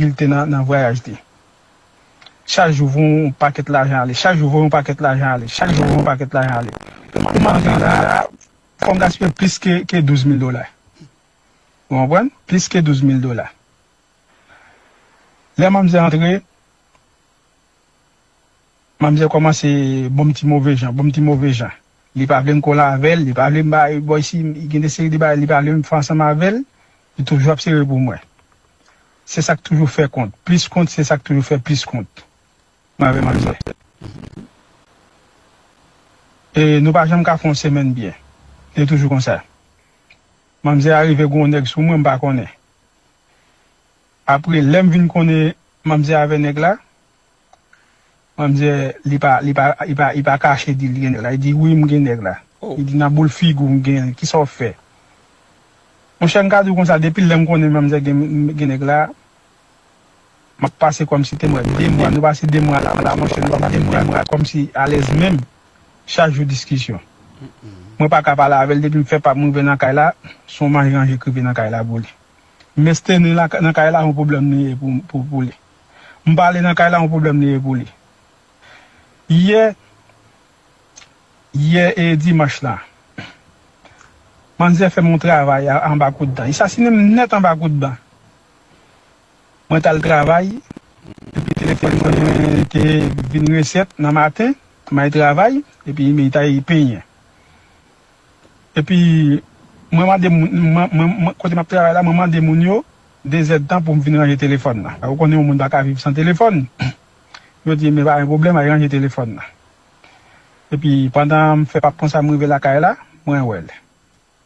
Bil te nan vwayaj li. Chak jou voye yon pakèt lajan ale, chak jou voye yon pakèt lajan ale, chak jou voye yon pakèt lajan ale. Pou mwen vin la a, fò m gaspiye plis ke douz mil dola. Ou konprann? Plis ke douz mil dola. Lè manmzè antre. Manmzèl kòmanse bonm ti move jan, bonm ti move jan. Li pa vle m kole avè l, li pa vle m ba l bòy si m, gen de seri de bagay li pa vle m fè ansanm avè l, li toujou ap sere pou mwen. Se sa k toujou fè kont, plis kont, se sa k toujou fè plis kont, mwen avè manmzè. E nou pa janm ka fè yon semèn byen. Li toujou konsa. Manmzè a rive gen yon nèg sou mwen, m pa konnen. Apre, lè m vin konnen manmzè avè nèg la. An dye li pa li pa li pa li pa kache di li gen nèg la li di wi m gen nèg la li di nan boul figou m genl kisa w fè monchè m ka di w konsa depi lè m konnen manmzè gen gen nèg la map pase kòmsi te mwen 2 mwa nou pase 2 mwa la la monchè nou pa pase 2 mwa kòmsi alèz menm chak jou diskisyon mwen pa ka pale avèl depi m fè pam m rive nan kay la son manje ranje k rive nan kay la pou li mès te ni nan kay la yon pwoblèm li ye pou pou li. M pa ale nan kay la yon pwoblèm li ye pou li. Yè yè e dimanch la manzè fè m yon travay anba kout dan. Li sasinen m nèt anba kout dan. Mwen t al travay epi telefòn mwen te vin resèt nan maten. M al travay epi Imey ta ye penyen. Epi mwen mande moun, kote map travay la mwen mande moun yo 2 zèd tan poum vin ranje telefòn nan. Ou konnen yon moun paka viv san telefòn. Yo dim e pa gen pwoblèm al ranje telefòn nan. Epi pandanm fè pap konsa mrive lakay la, mwen wèl.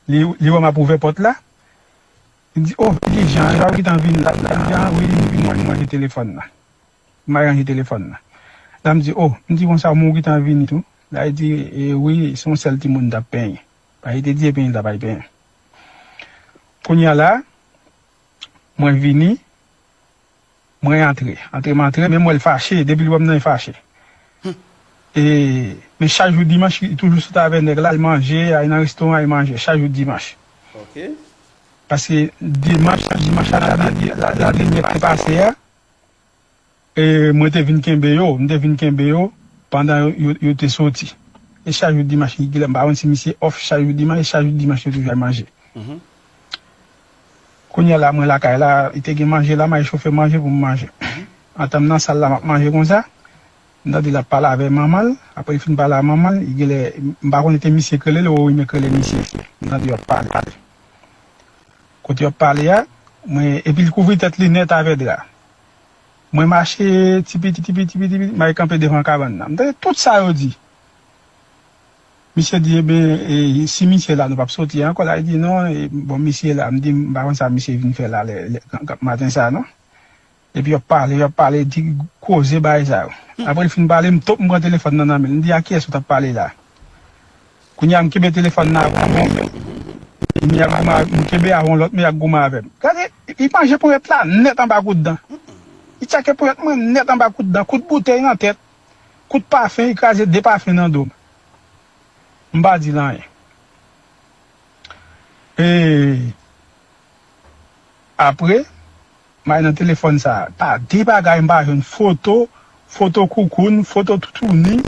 Li wèm ap ouvè pòt la, li di oh Vidi Jan, epa ou gentan vin la, Vidi Jan wi m vin ranje telefòn nan. M al ranje telefòn nan. Dam di, O, m di konsa ou menm ou gentan vini tou? Bae di, E, wi, se yon sèl timoun m t ap penyen. Bae te di, Ebyen li t ap al penyen. Kounye a la, mwen vini, mwen antre. Antre m antre, men m wè l fache, depi l wè m nan li fache. E, men chak jou dimanch li toujou sot avè nèg la al manje, al nan restoran al manje, chak jou dimanch. Paske dimanch, dimanch a la, la denyè k te pase a. E mwen te vin kenbe yo, m te vin kenbe yo pandan yo te soti. E chak jou Dimanch, m pa konn si misye off chak jou Dimanch, e chak jou Dimanch yo toujou al manje. Kounye a la mwen lakay la, li te gen manje la, m al chofe manje pou m manje. Antan m nan sal la m ap manje konsa, m tande l ap pale avè manman l, apre li fin pale a manman l, genlè, m pa konnen te misye k rele l ou Orime k rele misye, m tande yo ap pale. Kote yo ap pale a, mwen, epi l kouvri tèt li nèt avè dra. Mwen mache ti piti, ti piti, piti, piti, m al kanpe devan kabann nan. M tande tout sa yo di. Misye di, Eben, e si misye la nou pap soti ankò la? Li di, Non, e bon misye la. M di, M pa konn sa misye vin fè la lè, lè, maten sa non. Epi yo ap pale, yo ap pale, di koze bagay sa yo. Apre l fin pale, m top m pran telefòn nan nan men l. M di, a kiyès ou t ap pale la? Kounye a m kenbe telefòn nan avè m menm. M gen ak goumen, m kenbe avè yon lòt men y ak goumen avè m. Gade, li manje ponyèt la nèt anba kout dan. Li tchake ponyèt mwen nèt anba kout dan, kout boutèy nan tèt, kout pafen, li kraze 2 pafen nan do m. M pa di l anyen. E apre, May nan telefòn sa pa de bagay m pa jwenn foto foto koukoun foto toutouni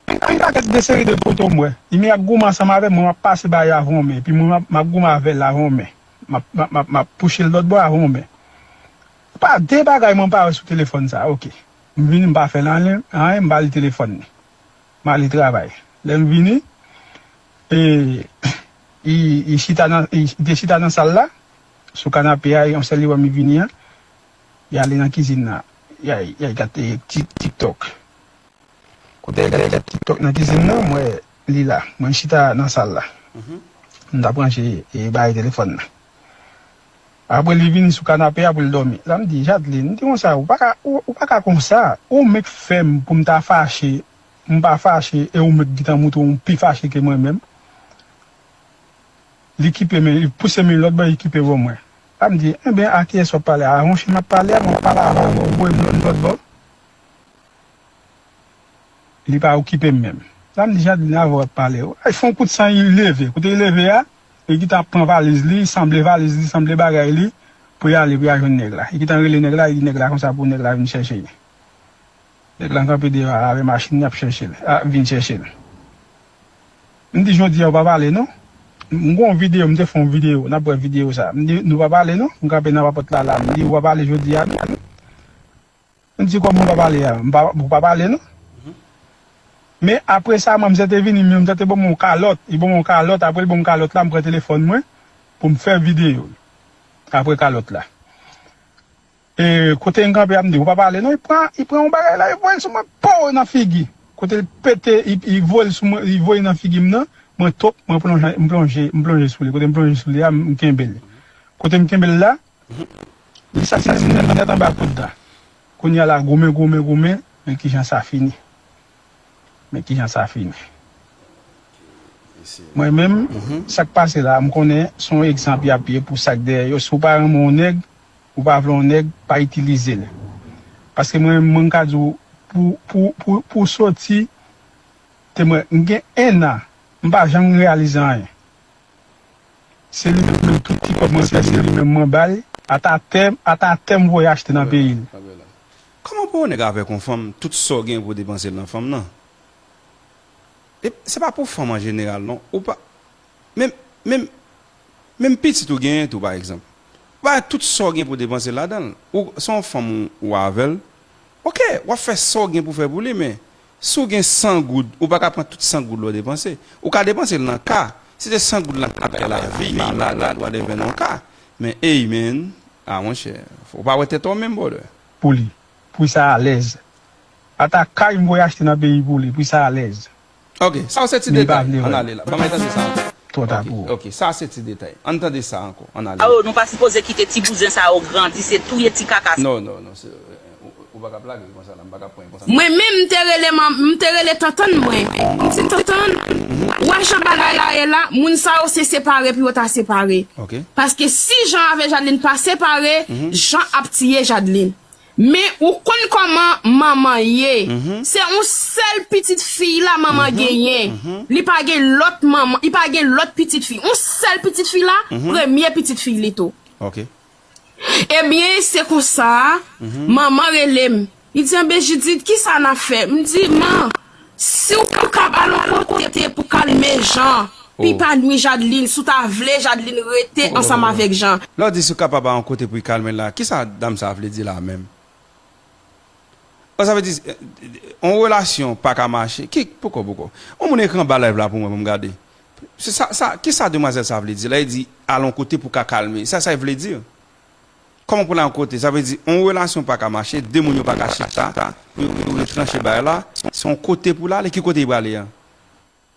epi yon pakèt de seri de foto m wè imi ap goumen ansanm avè mwen map pase ba yo avè yon men epi mwen map goumen avèl avè yon men map map map pouchel lòt bò avè yon men pa de bagay mwen pa wè sou telefòn sa ok m vini m pa fèl anyen anyen m pa li telefòn ni m ale travay lè m vini e li chita nan li te chita nan sal la. sou kanape a yon sèl li wè mi vini an li ale nan kizin nan yal gad tiktok kote yal gad tiktok nan kizin nan m wè li la mwen chita nan sal la m ta branche barye telefòn nan apre li vini sou kanape a pou l dòmi sa m di Jadeline m di konsa ou paka ou paka konsa ou mèt fè m pou m ta fache m pa fache e ou mèt gintan moutre w pi fache ke mwen menm. Li kipe men, li pouse men lòt bò, li kipe bò mwen. A m di, Enben, a kiyès w ap pale a? A wonche m ap pale a, mwen pale avè w, ou voye m lòt bò. Li pa okipe m menm. La m di, Jadeline, avè w ap pale. Li fè yon kout san, li leve. Kote li leve a, li gen tan pran valiz li, sanble valiz li, sanble bagay li, pou y ale pou y al jwenn nèg la. Li gen tan rele nèg la, li di nèg la konsa pou nèg la vin chèche li. Nèg lan kanpe devan arè machin yap chèchel a vin chèchel m di jodia ou pa pale non m gon video m te fon video nap wè video sa m di nou pa pale non m kanpe nan papòt la la m di ou pa pale jodia non m di kòman ou pa pale a ou pa pale non men apresa manmzè te vini men manmzè te banm yon kalòt li banm yon kalòt aprè li banm kalòt la m pran telefòn mwen poum fè video aprè kalòt la. Ee kote mkanpe ya mdi ou pa pale non li pran li pran yon bagay la li voyel sou mwen pow nan figi kotel pete li voyel sou mwen li voye nan figim nan mwen top mwen plonje mplonje mplonje souli kotem plonje souli ya mkenbel kotem kenbel la li sasinen nèt anba koud la kounya la goumen goumen goumen men kijan sa fini men kijan sa fini mwen menm sak pase la mkonnen son egzanp yap ye pou sak dèyè yo si ou pa renmen yon nèg. Ou pa vle yon nèg, pa itilize l. Paske mwen menm mwen ka di w pou pou pou pou w soti te mwen m gen 1 an m pa janm reyalize anyen. Se li menm menm tout ti kòb mwen fè se li menm mwen ba l ata tè ata tè m voye achte nan peyi l. Kòman pou yon nèg avèk yon fanm tout sa w gen pou w depanse l nan fanm nan? E se pa pou fanm an jeneral non ou pa menm menm Menm pitit ou genyen tou pa egzanp. Ou bay tout sa w gen pou w depanse ladan l. Ou, se yon fanm ou avè l, ok, w ap fè sa w gen pou w fè pou li men, si w gen 100 goud, ou pa ka pran tout 100 goud la w depanse. Ou ka depanse l nan ka, si se 100 goud lan k ap fè lavi, malad, whatever nan yon ka. Men ey men, ah monchè, ou pa wè tèt ou menm brother. Pou li. Pou sa alèz. Ata kay m voye achte nan peyi pou li. Pou sa alèz. Ok, sa yo se ti detay, ann ale la. Banm tande sa ankò. Twò ta pou ou. Ok, sa a se ti detay. Ann tande sa ankò, ann ale la. Oh, nou pa sipoze kite ti bouzen sa yo grandi, se touye ti kaka sa. Non, non, non, se, ou pa ka ap lage l konsa la, m pa ka ap pran l konsa. Mwen menm, m te rele man, m te rele tantann mwen, m di, Tantann, ou wè jan bagay la ye la, moun sa yo se separe pou yo ta separe. Ok. Paske si Jan avè Jadeline pa separe, Jan ap tiye Jadeline. Men ou konn koman manman ye se on sel pitit fiy la manman genyen li pa gen lot manman li pa gen lot pitit fiy on sel pitit fiy la premye pitit fiy li tou ebyen se konsa manman relem li di anben jidit kisa nap fè m di man Siw pa kab al on lot kote pou kalme Jean pi pa nwi Jadeline si w ta vle Jadeline rete ansanm avek Jean. Lè w di si w kapab al on kote pou kalme l la kisa dam sa vle di la menm? Oh sa vle di on relasyon pa ka mache ki poko poko on moun ekri anba live la pou mwen pou m gade sa kisa demwazel sa vle di lè li di al on kote pou ka kalme sa sa vle di? Kòman pou n al kote? Sa vle di yon relasyon pa ka mache, de moun yo pa ka chita pou yo rive tranche bagay la, se yon kote pou l ale, ki kote li prale an?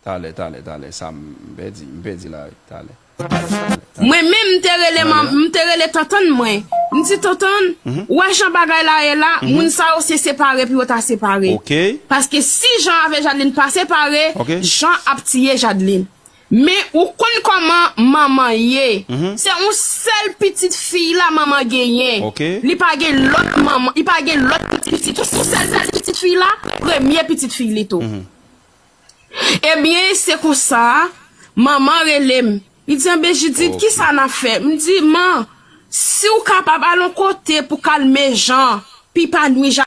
Talè, talè, talè, sa m pèdi, m pèdi la wi, talè, talè, talè, talè. Mwen menm m te rele man, m te rele tantann mwen, m di tantann, ou wè jan bagay la ye la, moun sa yo se separe pou yo ta separe. Paske si Jan avè Jadeline pa separe, Jan ap tiye Jadeline. Men ou konn koman manman ye. Se on sel pitit fiy la manman genyen. Li pa gen lot manman, li pa gen lot pitit fiy tou. Se on sel pitit fiy la, premye pitit fiy li tou. Ebyen se konsa, manman rele m. Li di anben Jidit ki sa n ap fè? M di man, si w kapab al on kote pou kalme jan, pi pa nwi Jacques.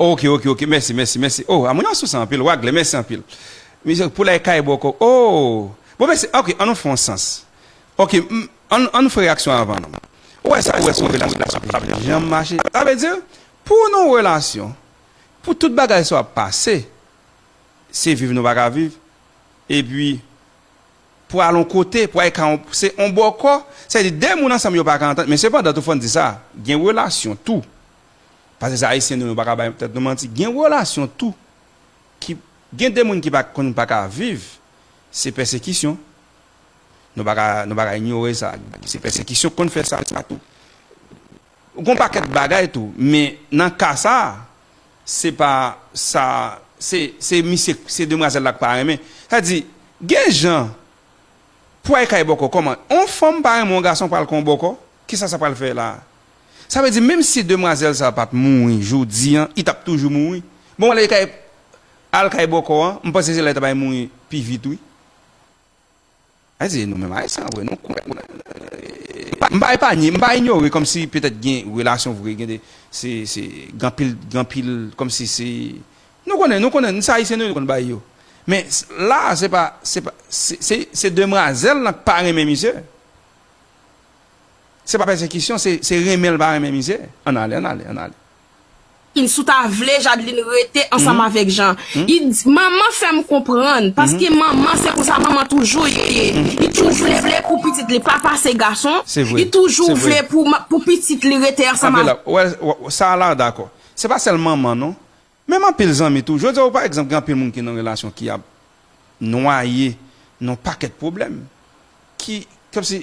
Ok ok ok mèsi mèsi mèsi oh a moun an souse anpil wagle mèsi anpil misye poulay kay bòkò oh bon mèsi ok an nou fè yon sans ok m an nou fè reyaksyon avan nou ou wè sa ou wè son relasyon la sa pap janm mache sa vle di pou nou relasyon pou tout bagay sa ap pase se viv nou pa ka viv epi pou al yon kote pou al ka yon se yon bòkò sa vle di 2 moun ansanm yo pa ka antann men sepandan tou fòn di sa gen relasyon tou Pase se ayisyen nou nou paka bay tèt nou manti gen relasyon tou ki gen de moun ki pa konn paka viv se pèsekisyon nou paka nou paka inyore sa se pèsekisyon konn fè sa tou gon pakèt bagay tou men nan ka sa se pa sa se se misye se demwazèl la k pa renmen sa di gen jan pway kay bòkò kòman on fanm pa renmen on gason pral kon bòkò Kisa sa pral fè la? Sa vle di menm si demwazèl sa pat mouri jodi an i tap toujou mouri? Bon ale kay al kay bòkò an m panse se la li ta bay mouri pi vit wi. Ayiti e nou menm ayisyen an vre nou kwè nan m pa epanye m pa inyore kòmsi petèt gen relasyon vre gen de se se gen anpil gen anpil kòmsi se nou konnen nou konnen se ayisyen nou konn bay yo men la se pa se pa se se demwazèl lan k pa renmen misye. Se pa pèsekisyon se renmen l pa renmen mizè ann ale ann ale ann ale. Kin si w ta vle Jadeline rete ansanm avèk Jan i di manman fè m konprann paske manman se konsa manman toujou ye li toujou vle pou pitit li pa pase gason li toujou vle pou pitit li rete ansanm avèk. Sa a la w dakò se pa sèl manman non. Menm anpil zanmi tou. Jodi a ou pa egzanp gen anpil moun ki nan relasyon ki ap nwaye nan yon pakèt pwoblèm ki kòmsi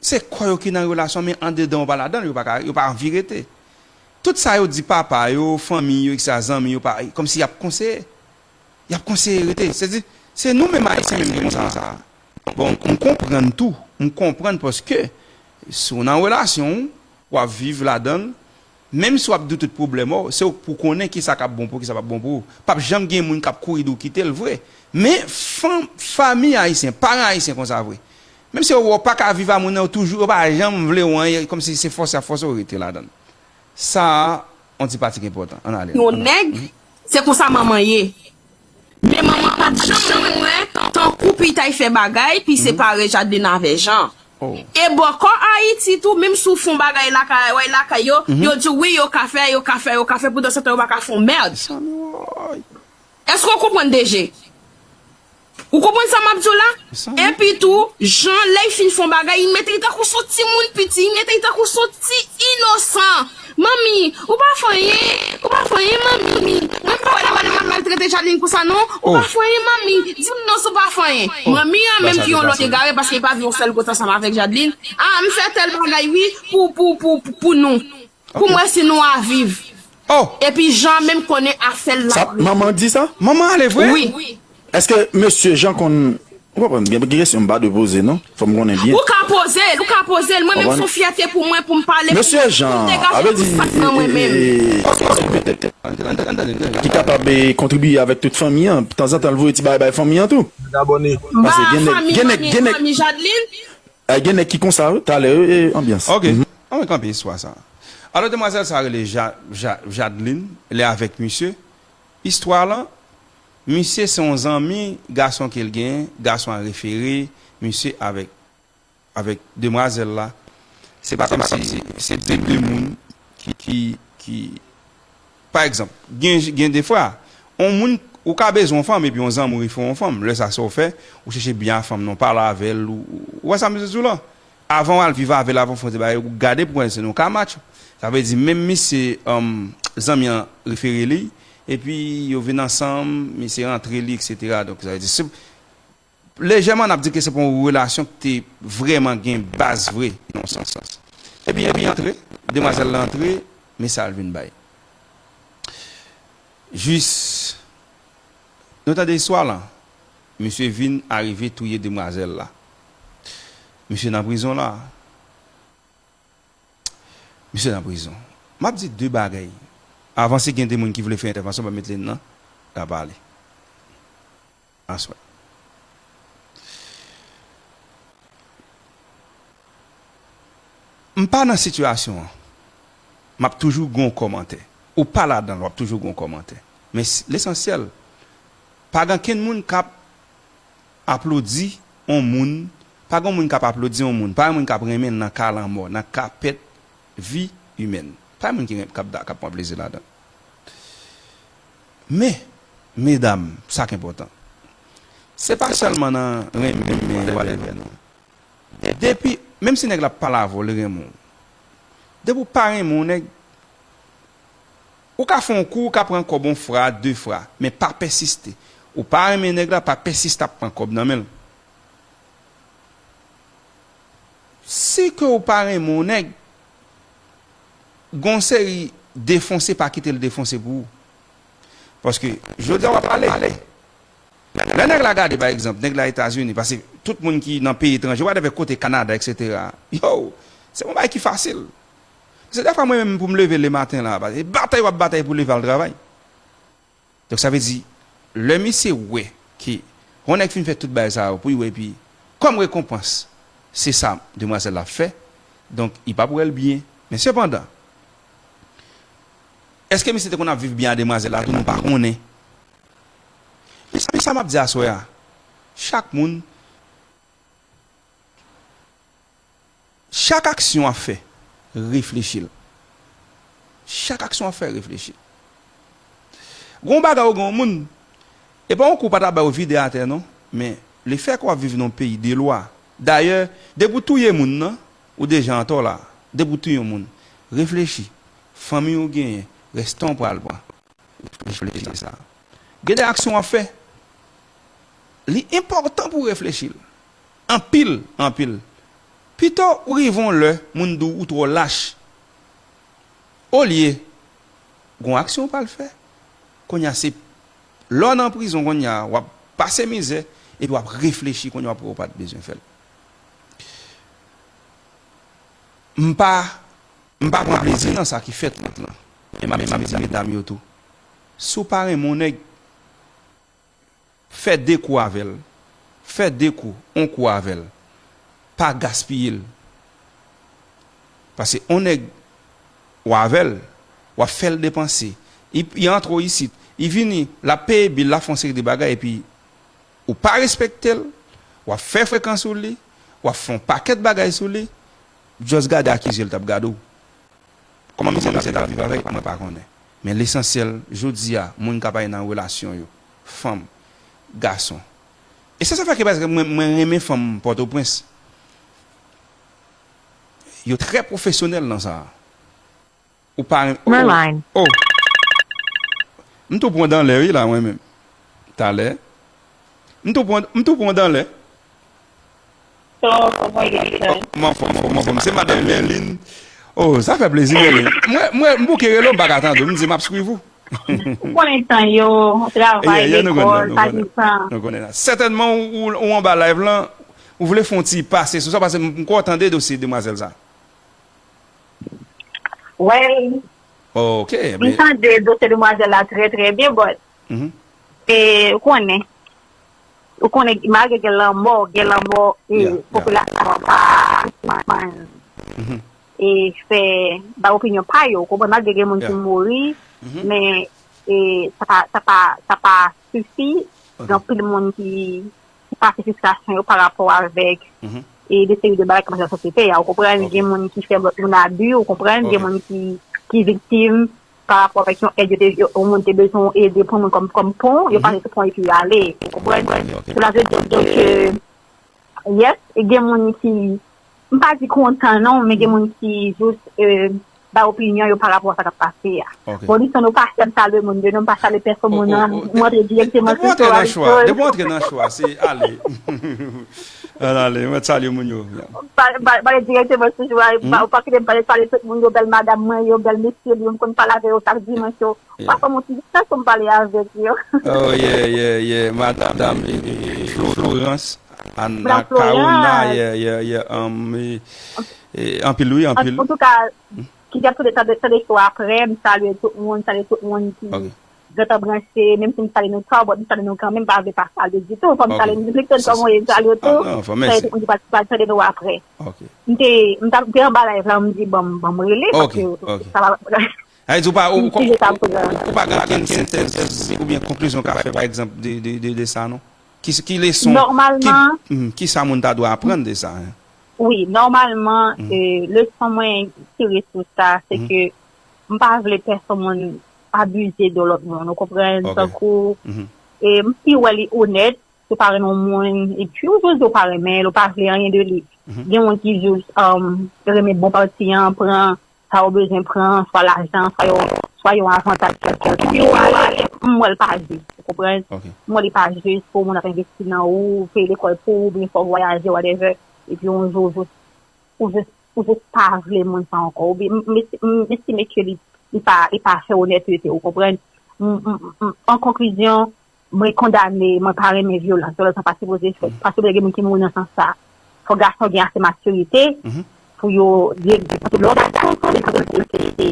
se kò yo ki nan relasyon men andedan yo pa ladan l, yo pa ka yo pa anvi rete. Tout sa yo di papa yo, fanmiy yo eksetra zanmi yo pa kòmsi y ap konseye y ap konseye rete se di se nou menm ayisyen menm ki konsa a bon m konprann tou m konprann paske si w nan relasyon w ap viv ladan l Menm si wap di w tout pwoblèm w, se w pou w konnen kisa kap bon pou w kisa pap bon pou w. Pap janm gen moun kap kouri di w kite l vre. Men fanm, fanmi ayisyen, paran ayisyen konsa vre. Menm si yo wè w paka viv a moun nan yo toujou yo pa janm vle w anyen kòm si se fòse yap fòse w rete ladan l. Sa a on ti patik enpòtan. Ann ale. Yon nèg, se konsa manman ye. Men manman pa t janm wè tankou Pitay fè bagay pi separe Jadeline avè Jan. E bòkò Ayiti tou, menm si w fè yon bagay lakay lakay yo, yo di w wi yo ka fè, yo ka fè, yo ka fè, poudansetan yo pa ka fè yon mèrd. Èske w konprann DG? Ou konprann sa m ap di w la? Epi tou, Jan lè y fin fè yon bagay, y mete y tankou s on timoun piti, y mete y tankou s on ti inosan. Manmi, ou pa fè anyen, ou pa fè anyen manmi, mwen pa wè lè Manuel maltrete Jadeline konsa non, ou pa fè anyen manmi, di m non si w pa fè anyen. Manmi an menm ki yon lòt egare paske li pa viv yon sèl kot ansanm avèk Jadeline, a m fè tèl bagay wi pou pou pou pou nou, pou m wè si nou a viv. Epi Jean menm konnen afè l la vre. Sa manman di sa? Manman ale vre? Wi. Eske mesye Jean konn Ou konprann gen kesyon m pa dwe poze non fò m konnen byen. Ou ka poze l, ou ka poze l, mwen menm son fyète pou mwen pou m pale pou Mesye Jean pou m degaje avè di tout sak nan mwen menm. Paske yon ti petèt ki kapab kontribiye avèk tout fanmi an tanzantan l voye ti bagay bay fanmi an tou. Mwen abòne. M ba fanmi Manmi e fanmi Jadeline. Gen nèg ki konsa wi talè wi anbyans. Ok anmwey kanpe istwa sa. Alò demwazèl sa rele Jadeline li avèk misye istwa lan Misye se yon zanmi gason kel gen, gason an refere misye avèk avèk demwazèl la, se pa kòm si se de de moun ki ki pa egzanp gen gen defwa yon moun ou ka bezwen yon fanm epi yon zanmi w refere yon fanm lè sa sa w fè ou chèche byen a fanm nan w pale avèl ou wè sa m bezwen di w lan Avan wal viv avel avan fon se bagay ou gade pou konnen se non kamacho sa vle di menm misye humm zanmi an refere li epi yo vin ansanm misye rantre li etc donk sa vle di se lejèman nap di ke se pa yon relasyon ki te vreman gen baz vre nan yon sans sans epi li rantre demwazel lan antre men sal vin bay jis nou tande istwa lan. Misye vin arive touye demwazel la. Misye nan prizon la. Misye nan prizon. Map di de bagay. Avan si gen de moun ki vle fè entèvansyon banm met line nan. Na pale. Aswè. Mpa nan sitiyasyon an. Map toujou gon komantè. Ou pa ladanl wap toujou gon komantè. Men lesansyèl. Pa gan kenn moun kap aplodi on moun, pa gan moun kap aplodi on moun, pa gan moun kap renmenl nan ka lanmò, nan ka pèt vi imèn. Pa gen moun ki renmen, kap da, kap pwan plezi ladan. Men, medam, sa k enpòtan, se pa sèlman nan renmen men yo ale vè non. Depi, menm si nèg la pale avè w, li renmen w. Depi w pa renmen on nèg. Ou ka fè yon kou ou ka pran kòb yon fra, de fra, men pa pèsiste. Ou pa renmen nèg la, pa pèsiste ap pran kòb nan men l. Si ke ou pa renmen yon nèg, gen yon seri defonse pa kite l defonse pou ou. Paske jodi a w ap ale, lè nèg la gade pa egzanp, nèg la Etazini, pase tout moun ki nan peyi etranje, whatever kote Kanada eksetera, yow, se pa yon bagay ki fasil. Se dèfwa mwen menm pou m leve le maten la, e batay wap batay pou leve al travay. Donk sa vle di, lè misye wè ke yon nèg fin fè tout bagay sa yo pou yo epi kòm rekonpans se sa demwazèl la ap fè, donk li pap wè l byen. Men sepandan, èske misye te konn ap viv byen a demwazèl la tou nou pa konnen. Men sa map di aswè a, chak moun Chak aksyon wap fè reflechi l. Chak aksyon wap fè reflechi l. Gen yon bagay ou gen yon moun, e pa yon kou pa ta bay ou vide atè non, men le fè ke wap viv nan yon peyi de lwa, dayè depi ou touye moun nan, ou deja antò la, depi ou touye yon moun, reflechi, fanmiy ou genyen, rès tan ou pral pran, reflechi nan sa. Gen de aksyon wap fè, li enpòtan pou reflechi l. Anpil, anpil. Pito ou rive on lè moun di w ou twò lach olye gon aksyon ou pral fè. Kounye a se lè w nan prizon kounye a w ap pase mizè epi w ap reflechi kounye a w ap wè ou pa t bezwen fè l. M pa m pa pran plezi nan sa ki fèt lan men m ap di medam yo tou si w pa renmen on nèg Fè de kou avè l. Fè de kou, on kou avè l. Pa gaspiye l. Pase on nèg ou avè l, w ap fè l depanse. I antre ou isit, i vini, l ap peye bil, l ap fè on seri de bagay epi ou pa respekte l, w ap fè frekan sou li, w ap fè on pakèt bagay sou li, just gade akize l t ap gade ou. Kòman mizè misye tap viv avèk mwen pa konnen men lesansyèl jodi a moun kap ale nan relasyon yo fanm gason e se sa fè ke pa ekzanp mwen mwen renmen fanm pòtoprens yo trè pwofesyonèl nan sa ou pa renmen o o m tou pran danlè wi la mwen menm talè m tou pran m tou pran danlè. Kòman fòm kòman fòm se madame Merline oh sa fè plezi Merline mwen mwen m bouke rele w m paka tande w m di map swiv ou ou konnen tan yo travay lekòl pa gen tan nou konnen sa sètènman ou anba live lan ou vle fon ti pase sou sa pase m kwè w tande dosye demwazèl sa wèl ok m tande dosye demwazèl la trè trè byen but e ou konnen Ou konnen malgre gen lanmò, gen lanmò e popilasyon an pa sispann e fè bay opinyon pa yo. Ou konprann? Malgre gen moun ki mouri men e sa pa sa pa sa pa sifi gen anpil moun ki ki pase fristrasyon yo pa rapò avèk e de seri de bagay ki pase nan sosyete a. Ou konprann? Gen moun ki fè lòt moun abi, ou konprann? Gen moun ki ki viktim. pa rapò avèk yon èd yo te yon moun te bezwen ou ede pou moun kòm kòm pon yo pa jis pran epi yo ale ou konprann sela vle di ke yes gen moun ki m pa di kontan non men gen moun ki jis bay opinyon yo pa rapò sa kap pase a bon li san nou pa fèm salwe moun yo non m pa salwe pèsonn moun nan m antre direkteman sou sou a depi ou antre nan cho a se ale. An ale, mwen salye moun yo. Mwen pale direkteman sou jou a, ou pa kite m pale, salye tout moun yo, bèl madam mwen yo, bèl mesye m yo, m konn pale avè yo chak dimanch yo. Ou pa fè m yon ti distans pou m pale avèk yo. Oh ye, ye, ye, madam Florence Anna Carona, ye, ye, ye, anpil wi, anpil. Antouka, ki gen pou de tan de tan de chou aprè, m salye tout moun, salye tout moun ki. Gentan branche, menm si m sale nou tò, bon m sale nou kanmenm pa vle pa sale ditou, fò m sale nou plis ke kòman yo sale yo tou, sa yo te konn di pa pral tande nou aprè. M te m ta m te anba live la m di bon m bon m rele paske sa va pran. Sa vle di ou pa ou ou pa gen okenn sentèz oubyen konklizyon w ka fè pa egzanp de de sa non? Ki leson ki sa moun ta dwe aprann de sa? Wi nòmalman leson mwen tire sou sa se ke m pa vle pèsonn moun abuser de lòt moun ou konprann Ok. tankou Mhm. e m si wè li onèt ou pa renmen yon moun epi ou jus di ou pa renmen l ou pa vle anyen de li Mhm. gen moun ki jus um, renmen bon pati an pran sa yo bezwen pran swa lajan swa yon swa yon avantaj kèlkonk epi ou ale m wè l pa jus ou konprann Ok. m wè li pa jus pou moun ap envesti nan ou peye lekòl pou ou oubyen fè w vwayaje whatever epi yon jou ou jus Ou just ou just pa vle moun sa ankò oubyn m m estime ke li li pa li pa fè onètete ou konprann m m an konklizyon mwen kondane mwen pa renmen vyolans vyolans sa pa sipoze fèt paske lè gen moun ki mouri nan sans sa fò gason gen ase matirite pou yo di paske lè w gason sa vle di ou gen matirite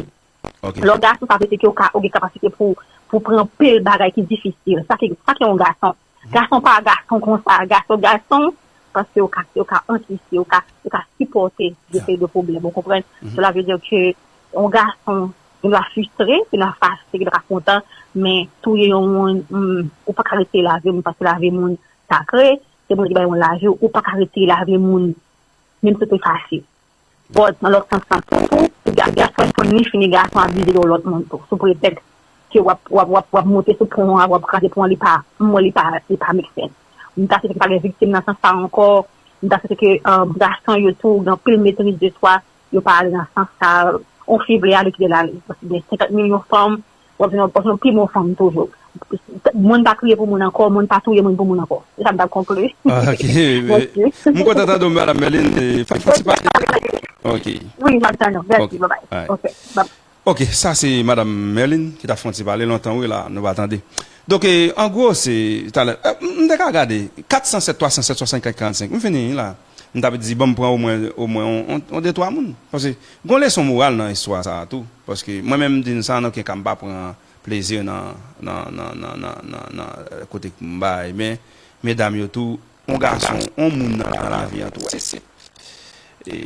lè w gason sa vle di ke ou ka ou gen kapasite pou pou pran anpil bagay ki difisil sa ki sa ki yon gason Gason pa gason konsa, gason gason paske yo ka yo ka ankyse, yo ka yo ka sipòte yon seri de pwoblèm ou konprann, sela vle di ke yon gason gen dwa fristre, gen dwa fache, gen dwa pa kontan men touye yon moun humm ou pa ka retire lavi moun paske lavi moun sakre, se Bondye ki bay moun lavi ou pa ka retire lavi moun menm si w te fache. But nan lòt sans lan tou tou, si gason fèk konn li fini gason abize yon lòt moun tou sou pretèks ke wap wap wap wap moute sou pon an wap kraze pon an li pa m wè li pa li pa make sense. M ta swete ke pa gen viktim nan sans sa ankò, m ta swete ke gason yo tou gen anpil metriz de swa yo pa ale nan sans sa, yon fi vle ale kite l ale paske gen 50 milyon fanm Wap vin wap vin yon pi bon fanm toujou. Moun pa kriye pou moun ankò, moun pa touye moun pou moun ankò. Se sa m tap konkli. Ok. Mèsi. M kontan tande w Madam Merline. Fè m pase pase. Ok. Wi map tann ou. Mèsi. Bye bye. Ok. Bye. Ok. Sa se Madam Merline ki tap fè yon ti pale lontan wi la nou pa tande. Donk an gwo se talè. M te ka gade 407 307 75 45. M fini la. M tap di banm pran omwen omwen on de twa moun paske gon leson moral nan istwa sa a tou paske mwen menm m di n sa nan oken ka m pa pran plezi nan nan nan nan nan nan nan kote k m bay men medam yo tou on gason on moun nan nan lavi an tou se senp e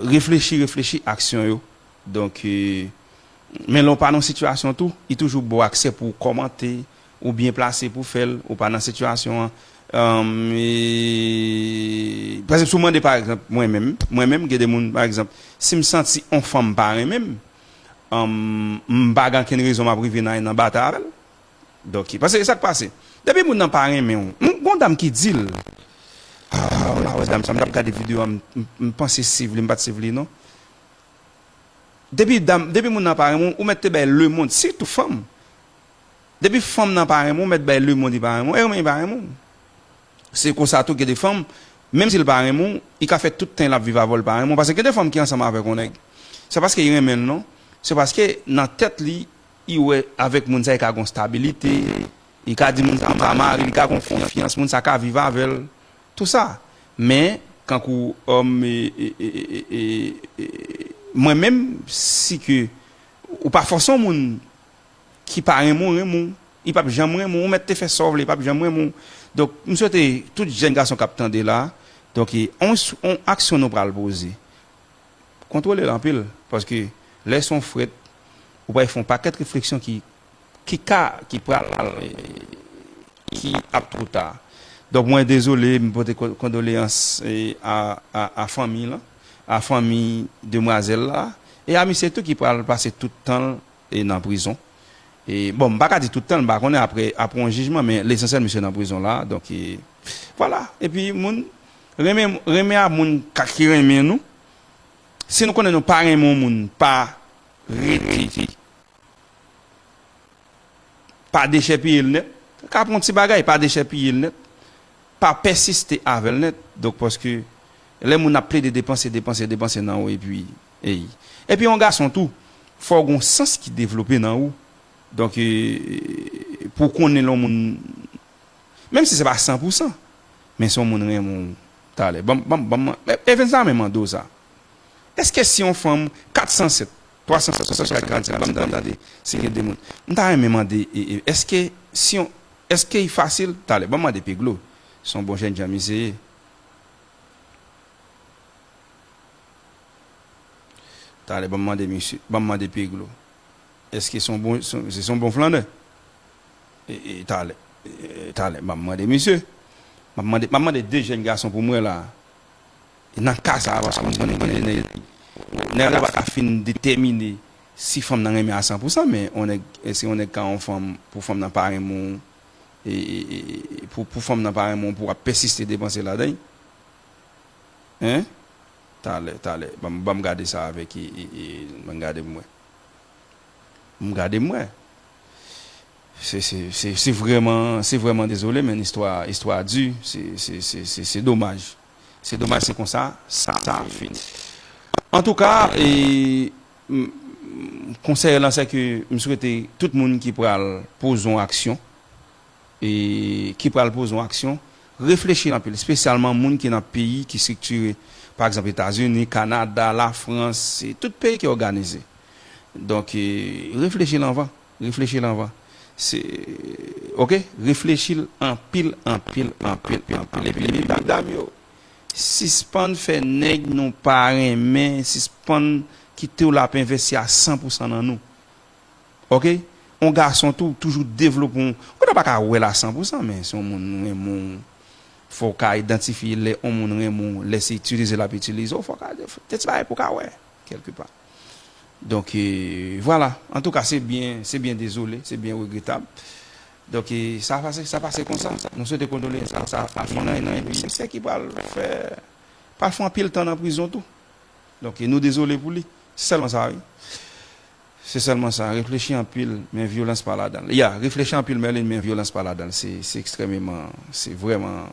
reflechi reflechi aksyon yo donk men lè w pa nan sitiyasyon tou li toujou bon ak se pou w kòmante Ou byen plase pou fèl, ou pa nan sitiyasyon an. Par ekzanp si w mande par ekzanp mwen menm, mwen menm gen de moun par ekzanp si m santi on fanm pa renmen m, m pa gen ankenn rezon m ap rive nan nan batay avè l. Dòk paske e sa k pase, depi moun nan pa renmen w, m gon dam ki di l, ah w la wè dam sa m t ap gade videyo a m panse siv li m pa t siv li non. Depi dam, depi moun nan pa renmen w, ou mèt te bay lemond sitou fanm, Depi fanm nan pa renmen w, mèt bay lemond li pa renmen w, e renmen li pa renmen w. Se konsa tou gen de fanm, menm si l pa renmen w, li ka fè tout tan l ap viv avè w li pa renmen w. Paske gen de fanm ki ansanm avèk yon nèg, se pa paske li renmen l non, se paske nan tèt li, li wè avèk moun sa li ka gen yon stabilite, li ka di moun sa m va mari l, li ka gen yon konfyans, moun sa ka viv avè l, tou sa. Men, kankou mwen menm, si ke ou pa fòse yon moun. ki pa renmen w renmen w li pap janm renmen w ou mèt te fè sa w vle li pap janm renmen w donk m swete tout jèn gason kap tande la donk e yon aksyon nou pral poze kontwole l anpil paske lè s on frèt ou pral fè yon pakèt refleksyon ki ki ka ki pral ki ap twò ta donk mwen dezole m pote kondoleyans a fanmi lan a fanmi demwazèl la e a misye tou ki pral pase tout tan l E nan prizon. E bon m pa ka di tout tan m pa konnen aprè aprè yon jijman men lesansyèl misye nan prizon la donk e vwala epi moun renmen renmen a moun ka ki renmen nou si nou konnen nou pa renmen yon moun pa rete pa dechèpiye l nèt ka pran yon ti bagay pa dechèpiye l nèt pa pèsiste avè l nèt donk paske lè moun ap plede depanse depanse depanse nan ou epi. Ey. Epi yon gason tou, fò w gon sans ki devlope nan ou. Donk pou w konnen lè yon moun, menm si se pa san pou san, men si yon moun renmen w talè. Banm, banm, banm man, Evens sa men mande w sa. Eske si yon fanm 407, 365 47 banm tande, si gen 2 moun. M ta renmen mande eske si yon, eske i fasil talè. Banm mande Peglo, son bon jènjan misye ye. Talè banm mande misye, banm mande Peglo eske son bon, se son bon flannè? Talè, talè banm mande misye. Map mande, map mande 2 jèn gason poum wè la nan ka sa paske m konnen gen de nèg nèg la paka fin detèmine si fanm nan renmen a san pou san men on nèg eske on nèg ka on fanm pou fanm nan pa renmen w pou fanm nan pa renmen w pou wap pèsiste depanse ladan l? Hein Talè talè banm banm gade sa avèk Banm gade m wè M gade m wè Se se se se vrèman se vrèman dezole men istwa istwa a di se se se se se domaj Se domaj se konsa sa sa fini Antouka e m konsèy lan sèke m swete tout moun ki pral poze yon aksyon e ki pral poze yon aksyon, reflechi anpil, espesyalman moun ki nan peyi ki striktire, pa egzanp Etazini, Kanada, Lafrans, e tout peyi ki òganize. Donk, reflechi l anvan, reflechi l anvan. Se, ok, reflechi l anpil, anpil, anpil, anpil. E pi medam yo, sispann fè nèg nou pa renmen, sispann kite w l ap envesti a san pou san nan nou. ok on gason tou toujou devlope on ou ta paka wèl a san pou san men si on moun renmen w fòw ka idantifye lè on moun renmen w lè se itilize lap itilize w fòw ka gen ti bagay pou ka wè kèlke pa donk vwala antouka se byen se byen dezole se byen regretab donk sa pase sa pase konsa nou swete kondoleyans a sa fanmi nan e pi sè ki pral fè pral fon anpil tan nan prizon tou donk nou dezole pou li se sèlman sa wi. Se sèlman sa, reflechi anpil men vyolans pa ladan l. Ya, reflechi anpil Merline men vyolans pa ladan l. Se ekstrèmeman, se vrèman,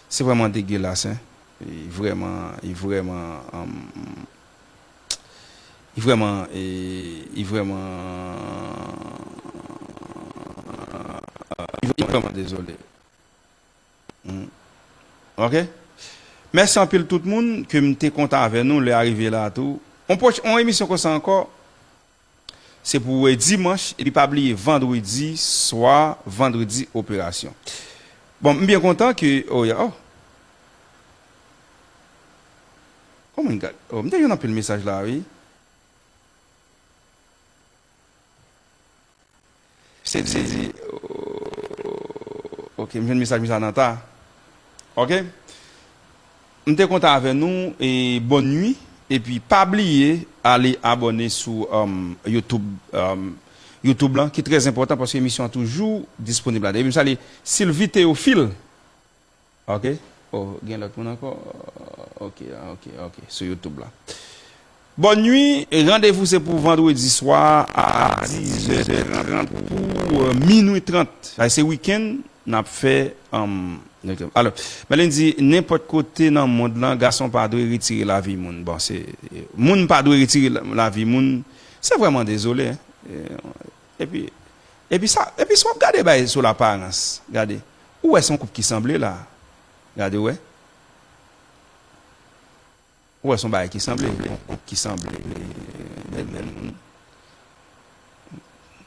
se vrèman degilas hein. Li vrèman, li vrèman, li vrèman, li vrèman, li vrèman dezole. Humm ok mèsi anpil tout moun ke m te kontan avè nou lè a rive la tou on pwoch on emisyon konsa ankò se pou dimanch epi pa bliye vandredi swa vandredi operasyon bon m byen kontan ke oh ya oh oh my god oh m te jwenn anpil mesaj la wi. Se di ooh ok m jwenn mesaj mwen sa nan ta ok m te kontan avè nou e bòn nwi epi pa bliye ale abòne sou youtube youtube lan ki trè zenpòtan paske emisyon an toujou disponib la depi m salye Sylvie Théophile. Ok oh gen lot moun anko ok ok ok sou youtube la Bonne nuit randevou se pou vendredi swa a 10 è 30 pou minuit 30 paske se weekend nap fè humm alò Merline di nenpot kote nan mond lan gason pa dwe retire lavi moun bon se moun pa dwe retire lavi moun se vreman dezole epi epi sa epi sa wap gade bay sou laparans gade Ou wè son koup ki sanble la gade wè ou wè son bagay ki sanble yon koup ki sanble bèl bèl moun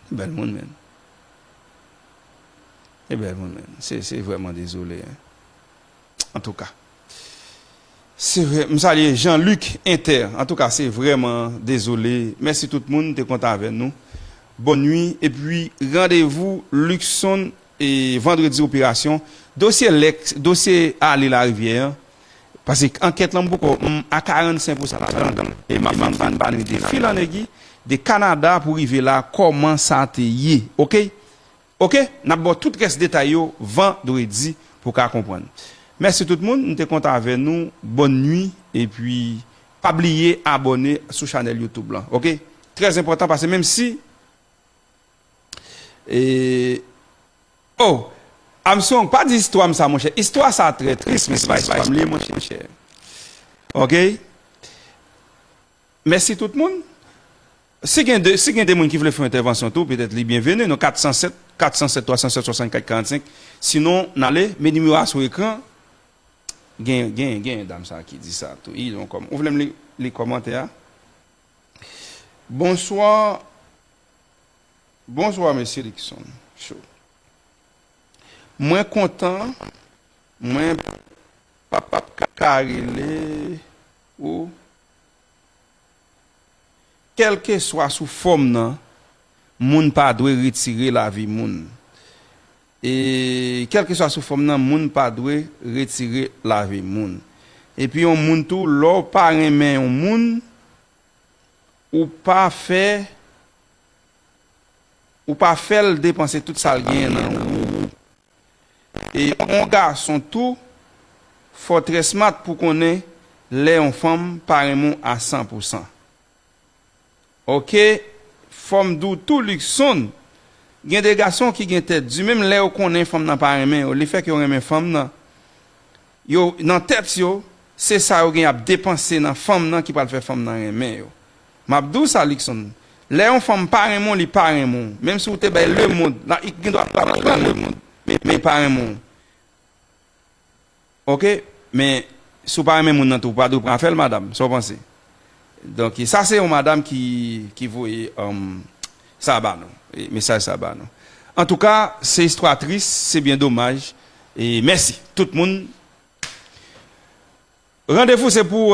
se bèl moun menn se bèl moun menn se se vrèman dezole antouka se vre m salye Jean Luc inter antouka se vrèman dezole mèsi tout moun te kontan avè nou bòn nwi epi randevou Luckson. e vandredi operasyon dosye lèk dosye ale larivyè an pase ankèt lan m poko m a 45 pou san ladan l e map vin vin pale de fil an egui de kanada pou rive la kòman sa te ye ok ok nap baw tout rès detay yo vandredi pou ka konprann mèsi tout moun m te kontan avè nou bòn nwi epi pa bliye abòne sou chanèl youtube lan ok trè zenpòtan pase menm si. Eeh oh Armstrong pa di istwam sa monchè istwa sa trè tris men se pa istwam li ye monchè ok mèsi tout moun si gen de si gen de moun ki vle fè yon entèvansyon tou petèt li byenveni nan 407 407 307 64 45 sinon nale men nimewo a sou ekran gen gen gen yon dam sa ki di sa tou ii ou vlem li li kòmantè a Bonsoir Bonswa Mesye Luckson show mwen kontan mwen pap ka rele ou kelkeswa sou fòm nan moun pa dwe retire lavi moun e kelkeswa sou fòm nan moun pa dwe retire lavi moun epi yon moun tou lè ou pa renmen yon moun Ou pa fè Ou pa fèl depanse tout sal genyen nan ou e on gason tou fò trè smart pou konnen lè on fanm pa renmen w a 100 pou 100 ok fòm di w tou Luckson gen de gason ki gen tèt di menm lè yo konnen fanm nan pa renmen yo le fè ke yo renmen fanm nan Yo nan tèt yo se sa yo gen yap depanse nan fanm nan ki pral fè fanm nan renmen yo map diw sa Luckson lè yon fanm pa renmen w li pa renmen w menm si w te bay le mond la li gendwa pa bay w le mond men li pa renmen w ok men si w pa renmen moun nan tou ou pa dwe pran afè l madam sa w panse Donk sa se yon madam ki voye sa ba nou, mesaj sa ba nou. Antouka se istwa tris, se byen domaj. Mèsi tout moun. Randevou se pou.